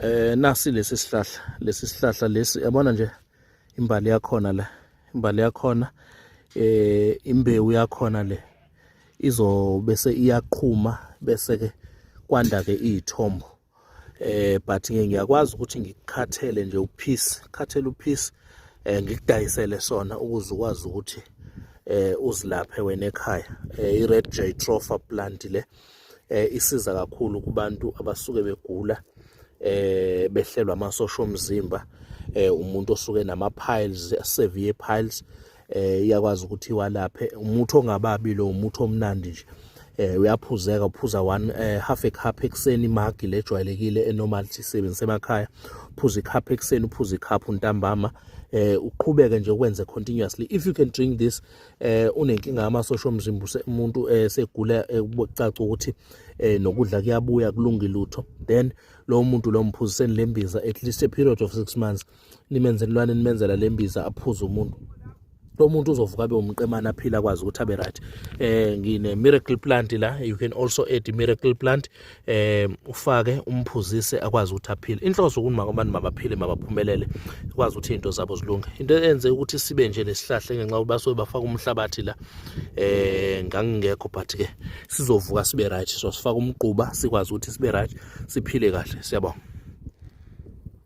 eh nasi lesi sihlahla lesi sihlahla lesi yabona nje imbali yakhona la imbali yakhona eh imbewu yakhona le izobe se iyaqhuma bese ke kwanda ke izithombo eh but ke ngiyakwazi ukuthi ngikukhathele nje uphisi khathele uphisi eh ngikudayisele sona ukuze ukwazi ukuthi eh uzilaphe wena ekhaya eh i red jay tropha plant le eh isiza kakhulu kubantu abasuke begula eh behlelwa amasosha omzimba eh umuntu osuke nama piles severe piles eh iyakwazi ukuthi walaphe umuthi ongababi lo umuthi omnandi nje eh uyaphuzeka uphuza one eh, half a cup ekseni imagi lejwayelekile enormal sisebenzise emakhaya uphuza icup ekseni uphuza icup ntambama eh uqhubeke nje ukwenze continuously if you can drink this eh unenkinga yamasosha omzimba umuntu eh, segula eh, kucaca ukuthi eh, nokudla kuyabuya kulungi lutho then lo muntu lo mphuziseni lembiza at least a period of 6 months nimenzelwane nimenzela lembiza aphuze umuntu lo muntu uzovuka abe umqemana aphila kwazi ukuthi abe right eh ngine miracle plant la you can also add miracle plant eh ufake umphuzise akwazi ukuthi aphile inhloso ukuthi makamani mabaphile mabaphumelele kwazi ukuthi into zabo zilunge into enze ukuthi sibe nje nesihlahle ngenxa yokuthi basuke bafaka umhlabathi la eh ngangingekho but ke sizovuka sibe right so sifaka umquba sikwazi ukuthi sibe right siphile kahle siyabonga